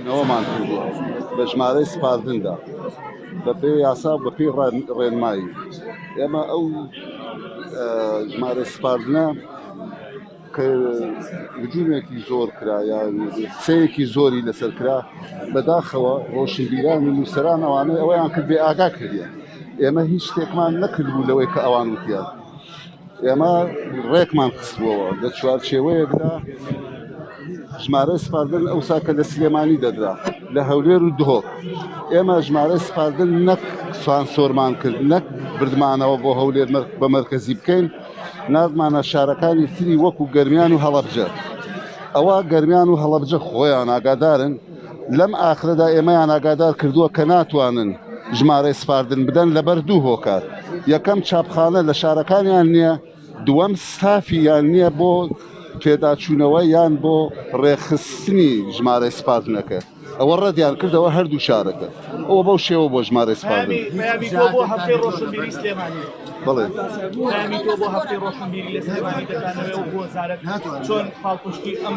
نەوەمان کردووە بە ژمارەی سپاردندا بەپێی یاسا بەپی ڕێنمایی ئێمە ئەو ژمارە سپاردنە کە وجوومێکی زۆر کرا یا سەیەکی زۆری لەسەر کرا بەداخەوە ڕۆشنبیرانی نووسەران ئەوانەی ئەوەیان کرد بێ ئاگا کردیان ئێمە هیچ شتێکمان نەکردبوو لەوەی کە ئەوان وتیان ئێمە ڕێکمان خستبووەوە لە چوارچێوەیەکدا ژمارەی سپاردن ئەوسا کە لە سلێمانی دەدرا لە هەولێر و دهۆک ئێمە ژمارەی سپاردن نەک سانسۆرمان کرد نەک بردمانەوە بۆ هەولێر بە مەرکەزی بکەین نازمانە شارەکانی تری وەکو گەرمیان و هەڵەبجە ئەوە گەرمیان و هەڵەبجە خۆیان ئاگادارن لەم ئاخرەدا ئێمەیان ئاگادار کردووە کە ناتوانن ژمارەی سپاردن بدەن لەبەر دوو هۆکار یەکەم چاپخانە لە شارەکانیان نییە دووەم ستافی یان نییە بۆ پێداچوونەوە یان بۆ ڕێخستنی ژمارەی سپاردنەکە ئەوە ڕەدیان کردەوە هەردوو شارەکە ئەوە بەو شێوە بۆ ژمارە سپاردن بڵێ چۆن پاڵپشتی ئەم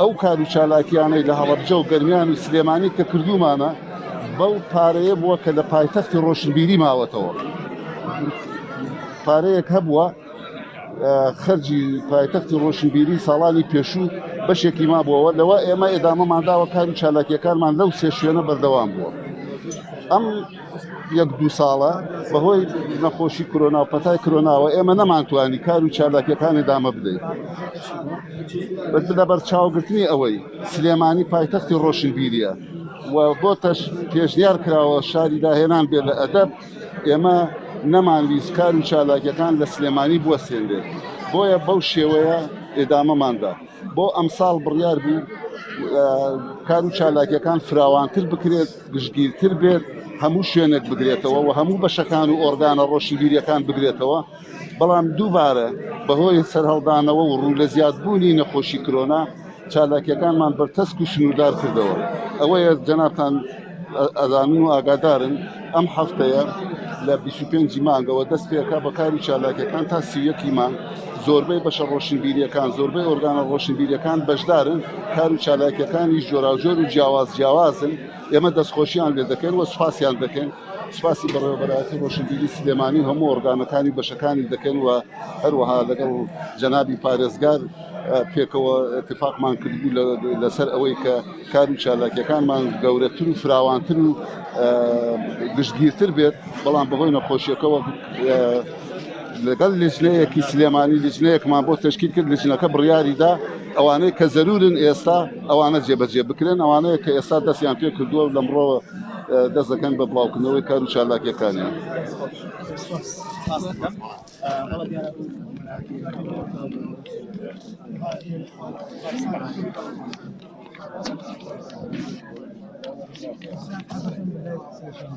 ئەو کار و چالاکیانەی لە هەڵەبجە و گەرمیان و سلێمانی کە کردوومانە بەو پارەیە بووە کە لە پایتەختی ڕۆشنبیری ماوەتەوە پارەیەک هەبووە خەرجی پایتەختی ڕۆشنبیری ساڵانی پێشوو بەشێکی ما بووەوە لەوە ئێمە ئێدامەمانداوە کار و چالاکیەکانمان لەو سێ شوێنە بەردەوام بووە ئەم یەک دوو ساڵە بەهۆی نەخۆشی کرۆنا و پەتای کرۆناوە ئێمە نەمانتوانی کار و چالاکیەکانی دامە بدەین لە بەرچاوگرتنی ئەوەی سلێمانی پایتەختی ڕۆشنبیریە و بۆ تەش پێشنیار کراوە شاری داهێنان بێت لە ئەدەب ئێمە نەمانویست کار و چالاکیەکان لە سلێمانی بووە سێندێت بۆیە بەو شێوەیە ئێدامەماندا بۆ ئەمساڵ بڕیار بوو کار و چالاکیەکان فراوانتر بکرێت گشتگیرتر بێت هەموو شوێنێک بگرێتەوە و هەموو بەشەکان و ئۆرگانە ڕۆشنبیریەکان بگرێتەوە بەڵام دووبارە بەهۆی سەرهەڵدانەوە و ڕوو لە زیادبوونی نەخۆشی کرۆنا چالاکیەکانمان بەرتەسک و سنووردار کردەوە ئەوەیە جەنابان ئەزانن و ئاگادارن ئەم هەفتەیە لە 25 مانگەوە دەست پێکا بەکاری چالاکیەکان تا سیەکی مانگ زۆربەی بەشە ڕۆشنبیریەکان، زۆربەی ئۆرگانە ڕۆشنبیریەکان بەشدارن، کار و چالاکیەکانیش جۆراوجۆر و جیاواز جیاوازن، ئێمە دەستخۆشیان لێ دەکەین و سوپاسیان دەکەین، سوپاسی بەڕێوەبەرایەتی ڕۆشنبیری سلێمانی و هەموو ئۆرگانەکانی و بەشەکانی دەکەین و هەروەها لەگەڵ جەنابی پارێزگار پێکەوە اتفاقمان کردبوو لەسەر ئەوەی کە کار و چالاکیەکانمان گەورەتر و فراوانتر و گشتگیرتر بێت، بەڵام بەهۆی نەخۆشیەکەوە لەگەڵ لیژنەیەکی سلێمانی لیژنەیەکمان بۆ تشکیل کرد لیژنەکە بڕیاریدا ئەوانەی کە زەرورن ئێستا ئەوانە جێبەجێ بکرێن ئەوانەیە کە ئێستا دەستیان پێ کردووە و لەمڕۆوە دەست دەکەن بە بڵاوکردنەوەی کار و چالاکیەکانیان. Thank you.